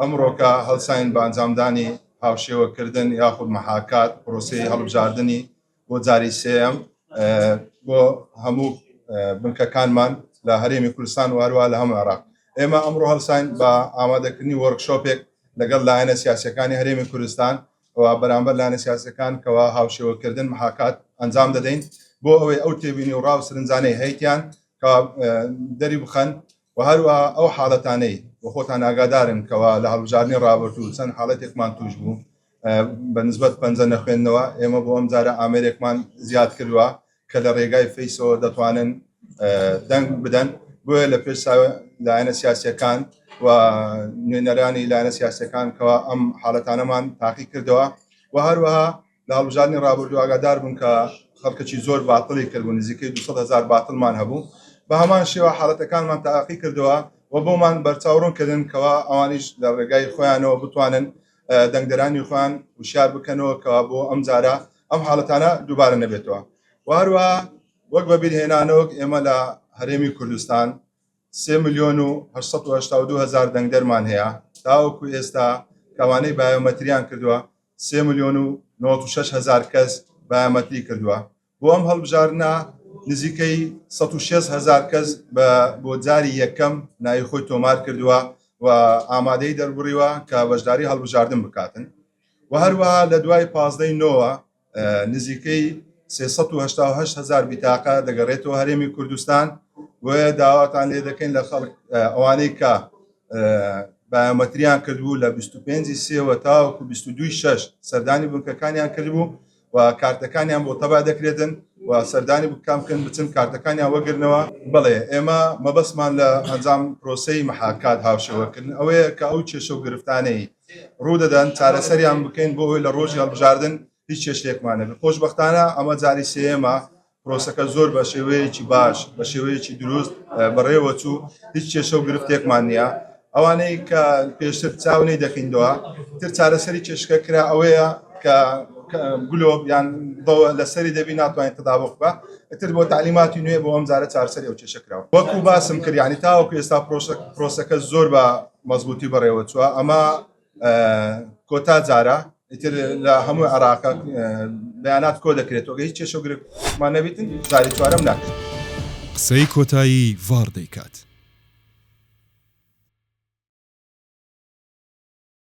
ئەمڕۆکە هەڵساین بە ئەنجامدانی هاوشێوەکردن یاخود محاکات پرۆسەی هەڵبژاردنی بۆ جاری سێیەم بۆ هەموو بنکەکانمان لە هەرێمی کوردستان و هەروە لە هەموو عێراق ئێمە ئەمڕۆ هەڵساین بە ئامادەکردنی وەرکشۆپێک لەگەڵ لایەنە سیاسەکانی هەرێمی کوردستان و بەرامبەر لایەنە سیاسەکان کەوا هاوشێوەکردن محاکات ئەنجام دەدەین بۆ ئەوەی ئەو تێبینی و ڕاو سرنجانەی هەیتیان کە دەری بخەن و هەروەها ئەو حاڵەتانەی و خۆتان ئاگادارن کەوا لە هەڵبژاردنی ڕابردوو چەند حاڵەتێکمان توش بوو بە نسبەت پەنجە نەخوێندنەوە ئێمە بۆ ئەم جارە ئامێرێکمان زیاد کردووە کە لە ڕێگای فەیسەوە دەتوانن دەنگ بدەن بۆیە لە پێش لایەنە سیاسەکان و نوێنەرانی لایەنە سیاسەکان کەوا ئەم حاڵەتانەمان تاقی کردەوە و هەروەها لە هەڵبژاردنی ڕابردوو ئاگادار بوون کە خەڵکەکی زۆر باتڵی کردبوو نزیکەی دوو سەد هەزار باتڵمان هەبوو بە هەمان شێوە حاڵەتەکانمان تاقی کردەوە و بۆمان بەرچاو ڕوون کردن کەوا ئەوانیش لە ڕێگای خۆیانەوە بتوانن دەنگدەرانی خۆیان وشیار بکەنەوە کەوا بۆ ئەم جارە ئەم حاڵەتانە دووبارە نەبێتەوە و هەروە وەک بەبیرهێنانەوەک ئێمە لە هەرێمی کوردستان سێ ملیۆن و هەشت سەد و هەشتا و دوو هەزار دەنگدەرمان هەیە تاوەکو ئێستا کەوانەی بایۆمەتریان کردووە سێ ملیۆن و نەوەد و شەش هەزار کەس بایۆمەتری کردووە، بۆ ئەم هەڵبژاردنە نزیکەی سەد و شەست هەزار کەس بۆ جاری یەکەم ناوی خۆی تۆمار کردووە و ئامادەیی دەربڕیوە کە بەشداری هەڵبژاردن بکاتن و هەروەها لە دوای پازدەی نۆوە نزیکەی سێ سەد و هەشتا و هەشت هەزار بیتاقە دەگەڕێتەوە هەرێمی کوردستان بۆیە داواتان لێ دەکەین لە خەڵک ئەوانەی کە بایۆمەتریان کردبوو لە 25 سێوە تاوەکو 22 شش سەردانی بنکەکانیان کردبوو و کارتەکانیان بۆ تەبا دەکرێتن و سەردانی بکەم بکەن بچن کارتەکانیان وەگرنەوە بڵێ ئێمە مەبەستمان لە ئەنجام پرۆسی محاکات هاوشێوەکردن ئەوەیە کە ئەو کێشە و گرفتانەی ڕوودەدەن چارەسەریان بکەین بۆ ئەوەی لە ڕۆژی هەڵبژاردن هیچ کێشێکمانە خۆشببختانە ئەمە جاری سێمە پرۆسەکە زۆر بە شێوەیەکی باش بە شێوەیەکی دروست بەڕێوە چوو هیچ کێشە و گرفتێکمان نییە ئەوانەی کە پێشتر چاونەی دەکەینەوە تر چارەسەری کێشکە کرا ئەوەیە کە گلۆب یان بەوە لەسەری دەبی ناتوانین تداوق بە ئەتر بۆ تعلیماتی نوێ بۆ ئەم جارە چارسەری ئەو کێشە کراوە وەکو باسم کردیانی تاوەکو ئێستا پرۆسەکە زۆر بە مەزبوتی بەڕێوە چوە ئەمە کۆتا جارە ئیتر لە هەموو عراقە بەیانات کۆ دەکرێتەوە هیچ چێشە گرفتمان نەبیتن جاری چوارم ناکرێت قسەی کۆتایی ڤاڕ دەیکات.